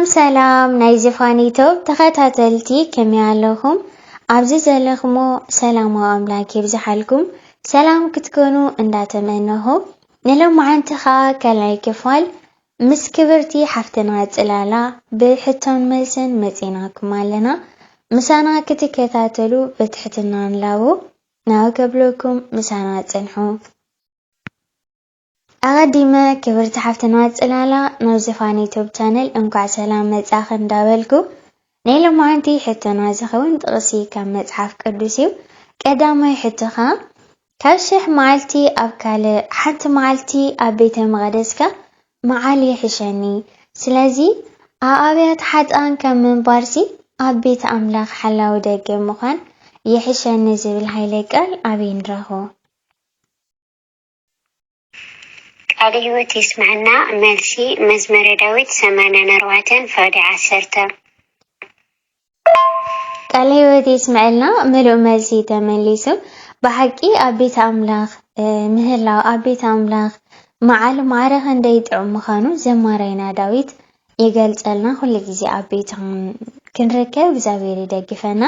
ሰላም ሰላም ናይ ዝፋን ዩቱብ ተኸታተልቲ ከመይ ኣለኹም? ኣብዚ ዘለኹሞ ሰላማዊ ኣምላክ ይብዝሓልኩም ሰላም ክትኮኑ እንዳተመነኹ ንሎማዓንቲ ከዓ ካልኣይ ክፋል ምስ ክብርቲ ሓፍትና ፅላላ ብሕቶን መልስን መፂናኩም ኣለና ምሳና ክትከታተሉ ብትሕትና ንላቦ ናብ ከብለኩም ምሳና ፅንሑ ኣቀዲመ ክብርቲ ሓፍትና ጽላላ ናብ ዝፋን ዩቱብ ቻነል እንኳዕ ሰላም መጻኺ እንዳበልኩ ናይ ሎማዓንቲ ሕቶና ዝኸውን ጥቅሲ ካብ መጽሓፍ ቅዱስ እዩ ቀዳማይ ሕቶ ከኣ ካብ ሽሕ መዓልቲ ኣብ ካልእ ሓንቲ መዓልቲ ኣብ ቤተ መቅደስካ መዓል ይሕሸኒ ስለዚ ኣብ ኣብያተ ሓጥኣን ከም ምንባርሲ ኣብ ቤት ኣምላኽ ሓላዊ ደገ ምዃን ይሕሸኒ ዝብል ሃይለ ቃል ኣበይ ንረኽቦ። ቃለ ህይወት የስመዐና መልሲ መዝመረ ዳዊት ሰማንያን ኣርባዕተን ፍቅዲ ዓሰርተ። ቃለ ህይወት የስመዐልና ምሉእ መልሲ ተመሊሱ ብሓቂ ኣብ ቤት ኣምላኽ ምህላው ኣብ ቤት ኣምላኽ መዓል ማዕረ ክንደይ ጥዑም ምዃኑ ዘማራይና ዳዊት ይገልጸልና ኩሉ ግዜ ኣብ ቤቱ ክንርከብ እግዚኣብሔር ይደግፈና።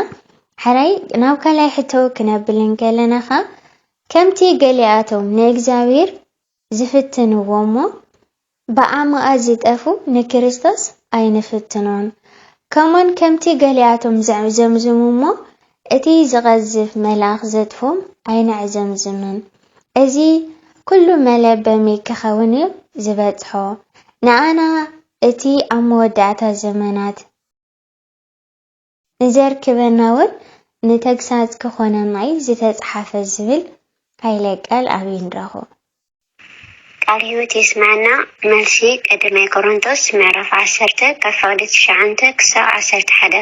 ሕራይ ናብ ካልኣይ ሕቶ ክነብል እንከለና ከኣ ከምቲ ገሊኣቶም ንእግዚኣብሔር ዝፍትንዎ እሞ ብዓመኣ ዝጠፉ ንክርስቶስ ኣይንፍትኖን ከምኡውን ከምቲ ገሊኣቶም ዘዕዘምዝሙ እሞ እቲ ዝቐዝፍ መልኣኽ ዘጥፍኡም ኣይነዕዘምዝምን። እዚ ኵሉ መለበሚ ኪኸውን እዩ ዚበጽሖ፣ ንኣና እቲ ኣብ መወዳእታ ዘመናት ንዜርክበናውን ንተግሳጽ ኪዀነና እዩ ዝተጻሕፈ ዚብል ኃይለ ቃል ኣበይ ንረኽቦ? ቃል ሕይወት የስምዐና። መልሲ፣ ቀዳማይ ቆሮንቶስ ምዕራፍ ዓሰርተ ካብ ፍቕዲ ትሽዓንተ ክሳብ ዓሰርተ ሓደ።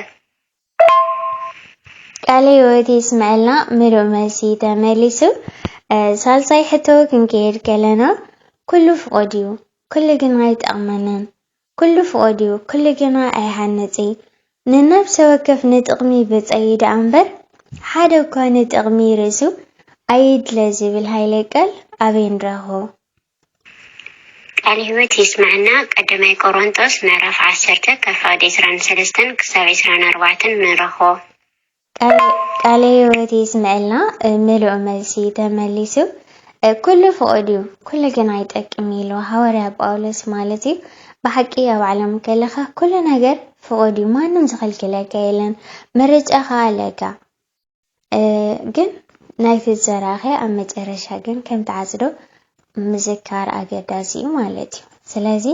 ቃለ ህይወት የስመዐልና ምሉእ መልሲ ተመሊሱ ሳልሳይ ሕቶ ክንከይድ ከለና ኩሉ ፍቁድ እዩ ኩሉ ግና ኣይጠቅመንን ኩሉ ፍቁድ እዩ ኩሉ ግና ኣይሃንፅ ንነብሰ ወከፍ ንጥቅሚ ብፀዩ ደኣ እምበር ሓደ እኳ ንጥቅሚ ርእሱ ኣይድለ ዝብል ሃይለ ቃል ኣበይ ንረክቦ። ቃል ህይወት የስመዐና ቀዳማይ ቆሮንጦስ ምዕራፍ ዓሰርተ ካብ ፍቅዲ ዕስራን ሰለስተን ክሳብ ዕስራን ኣርባዕተን ንረኽቦ። ቃለ ህይወት የስመዐልና ምሉእ መልሲ ተመሊሱ ኩሉ ፍቁድ እዩ ኩሉ ግን ኣይጠቅም ኢሉ ሃዋርያ ጳውሎስ ማለት እዩ ብሓቂ ኣብ ዓለም ከለኻ ኩሉ ነገር ፍቁድ እዩ ማንም ዝኽልክለካ የለን ምርጫኻ ኣለካ ግን ናይቲ ዘራኸ ኣብ መጨረሻ ግን ከም ትዓጽዶ ምዝካር ኣገዳሲ እዩ ማለት እዩ። ስለዚ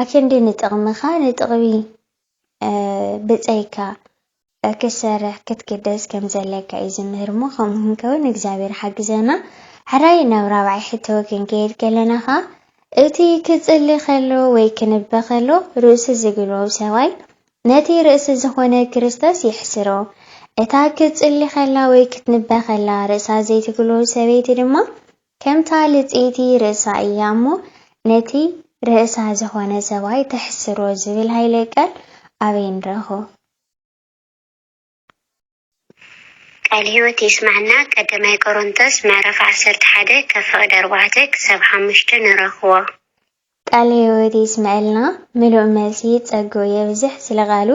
ኣክንዲ ንጥቕምኻ ንጥቕሚ ብጸይካ ክሰርሕ ክትግደስ ከም ዘለካ እዩ ዝምህር እሞ ከምኡ ክንከውን እግዚኣብሔር ሓግዘና። ሕራይ ናብ ራብዓይ ሕቶ ክንከይድ ከለና ኸኣ እቲ ክጽሊ ከሎ ወይ ክንበ ከሎ ርእሱ ዝግልቦብ ሰብኣይ ነቲ ርእሲ ዝዀነ ክርስቶስ የሕስሮ። እታ ክትጽሊ ኸላ ወይ ክትንበ ኸላ ርእሳ ዘይትግሎ ሰበይቲ ድማ ከምታ ልጽይቲ ርእሳ እያ እሞ ነቲ ርእሳ ዝዀነ ሰብኣይ ተሕስሮ ዝብል ሃይለ ቃል ኣበይ ንረኽቦ? ቃል ህይወት የስመዐና ቀዳማይ ቆሮንቶስ ምዕራፍ ዓሰርተ ሓደ ካብ ፍቅዲ ኣርባዕተ ክሳብ ሓሙሽተ ንረክቦ። ቃለ ህይወት የስመዐልና ምሉእ መልሲ ጸግኡ የብዝሕ ስለ ቃሉ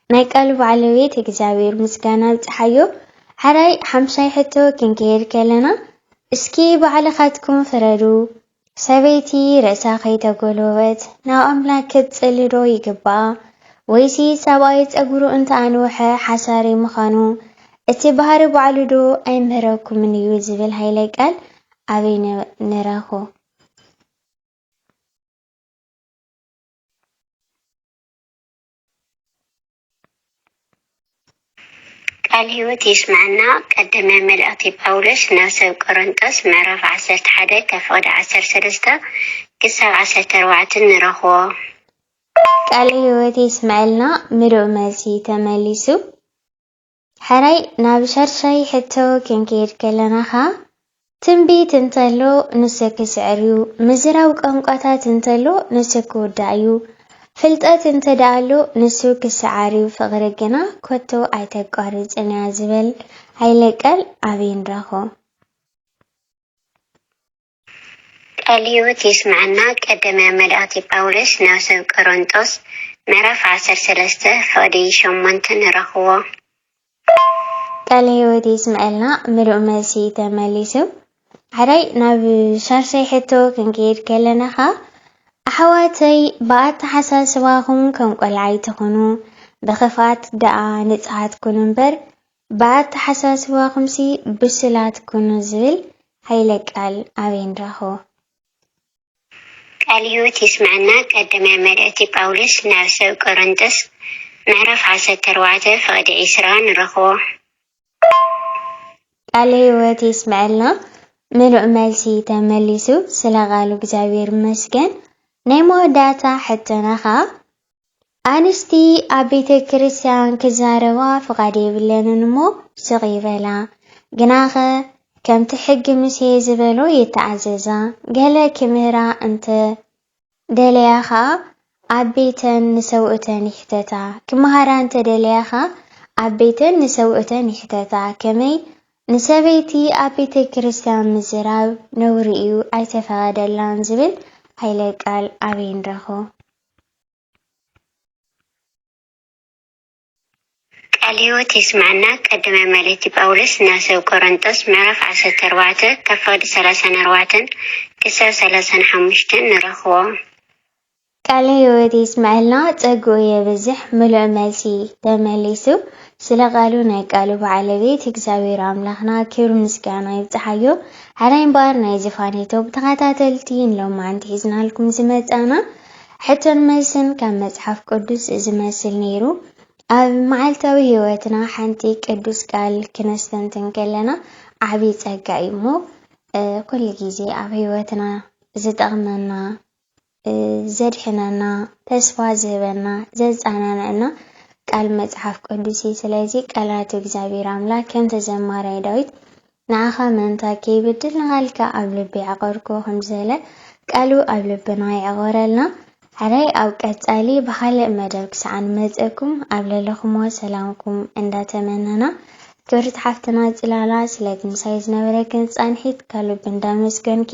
ናይ ቃሉ ባዕለቤት እግዚኣብሔር ምስጋና ኣብጽሓዮ ሐራይ ሓምሻይ ሕቶ ክንከይድ ከለና እስኪ ባዕልካትኩም ፍረዱ ሰበይቲ ርእሳ ከይተጎልበበት ናብ ኣምላክ ክትጽሊ ዶ ይግብኣ ወይሲ ሰብኣይ ጸጉሩ እንተ ኣንውሐ ሓሳሪ ምኻኑ እቲ ባህሪ ባዕሉ ዶ ኣይምህረኩምን እዩ ዝብል ሃይለ ቃል ኣበይ ንረክቦ። ቃል ህይወት የስመዐና ቀደመ መልእክቲ ጳውሎስ ናብ ሰብ ቆረንጦስ ምዕራፍ ዓሰርተ ሓደ ከፍቅድ ዓሰርተ ሰለስተ ክሳብ ዓሰርተ ኣርባዕተ ንረክቦ። ቃለ ህይወት የስመዐልና ምሉእ መልሲ ተመሊሱ። ሕራይ ናብ ሻድሻይ ሕቶ ክንከይድ ከለና ከኣ ትንቢት እንተሎ ንሱ ክስዕር እዩ፣ ምዝራብ ቋንቋታት እንተሎ ንሱ ክውዳእ እዩ፣ ፍልጠት እንተደኣ ኣሎ ንሱ ክሰዓር እዩ፣ ፍቕሪ ግና ኮቶ ኣይተቋርጽን እያ ዝበል ሃይለ ቃል ኣበይ ንረኽቦ? ቃል ህይወት የስመዐና ቀደመ መልእክቲ ጳውሎስ ናብ ሰብ ቆሮንጦስ ምዕራፍ ዓሰርተ ሰለስተ ፍቅዲ ሸሞንተ ንረክቦ። ቃለ ህይወት የስምዐልና ምሉእ መልሲ ተመሊሱ ሓዳይ ናብ ሻርሻይ ሕቶ ክንከይድ ከለና ከኣ ኣሕዋተይ ብኣተሓሳስባኹም ከም ቆልዓ ኣይትኹኑ ብኽፍኣት ደኣ ንጽሃት ኩኑ እምበር ብኣተሓሳስባኹምሲ ብሱላት ኩኑ ዝብል ሃይለ ቃል ኣበይ ንረኽቦ? ቃል ህይወት የስመዐና ቀዳማይ መልእክቲ ጳውሎስ ናብ ሰብ ቆረንቶስ ምዕራፍ ዓሰርተ ኣርባዕተ ፍቅዲ ዕስራ ንረኽቦ። ቃለ ህይወት የስመዐልና ምሉእ መልሲ ተመሊሱ ስለ ቃሉ እግዚኣብሔር ይመስገን ናይ መወዳእታ ሕቶና ከኣ ኣንስቲ ኣብ ቤተ ክርስቲያን ክዛረባ ፍቓድ የብለንን እሞ ስቕ ይበላ። ግናኸ ከምቲ ሕጊ ሙሴ ዝበሎ ይተኣዘዛ። ገለ ክምህራ እንተ ደለያ ኸኣ ኣብ ቤተን ንሰብኡተን ይሕተታ። ክመሃራ እንተ ደለያ ኸኣ ኣብ ቤተን ንሰብኡተን ይሕተታ። ከመይ ንሰበይቲ ኣብ ቤተ ክርስቲያን ምዝራብ ነውሪ እዩ ኣይተፈቐደላን ዝብል ኃይለ ቃል ኣበይ ንረኽቦ? ቃል ህይወት የስመዐና ቀዳማይ መልእክቲ ጳውሎስ ናብ ሰብ ቆረንጦስ ምዕራፍ ዓሰርተ ኣርባዕተ ካብ ፈቅዲ ሰላሳን ኣርባዕተን ክሳብ ሰላሳን ሓሙሽተን ንረኽቦ። ቃለ ሕይወት የስምዐልና ጸግኡ የብዝሕ ምሉእ መልሲ ተመሊሱ ስለ ቃሉ ናይ ቃሉ ባዓለቤት እግዚኣብሔር ኣምላኽና ክብሪ ምስጋና ይብጽሓዮ ሕራይ እምበኣር ናይዚ ፋኔቶ ብተኸታተልቲ ንሎማዓንቲ ሒዝናልኩም ዝመጻእና ሕቶን መልስን ካብ መጽሓፍ ቅዱስ እዚ መስል ነይሩ። ኣብ መዓልታዊ ህይወትና ሓንቲ ቅዱስ ቃል ክነስተንትን ከለና ዓቢ ጸጋ እዩ እሞ ኩሉ ግዜ ኣብ ህይወትና ዝጠቕመና ዘድሕነና፣ ተስፋ ዝህበና፣ ዘጸናንዐና ቃል መጽሓፍ ቅዱስ እዩ። ስለዚ ቃላቱ እግዚኣብሔር ኣምላክ ከምቲ ዘማራይ ዳዊት ንዓኻ ምእንታ ከይብድል ንቓልካ ኣብ ልበይ ዓቐርኩ ከምዝበለ ቃሉ ኣብ ልብና ይዕቐረልና። ሕራይ ኣብ ቀጻሊ ብኻልእ መደብ ክሳዕ ንመጸኩም ኣብ ለለኹሞ ሰላምኩም እንዳተመነና ክብርቲ ሓፍትና ጽላላ ስለቲ ምሳይ ዝነበረክን ጻንሒት ከልብ እንዳመስገንኪ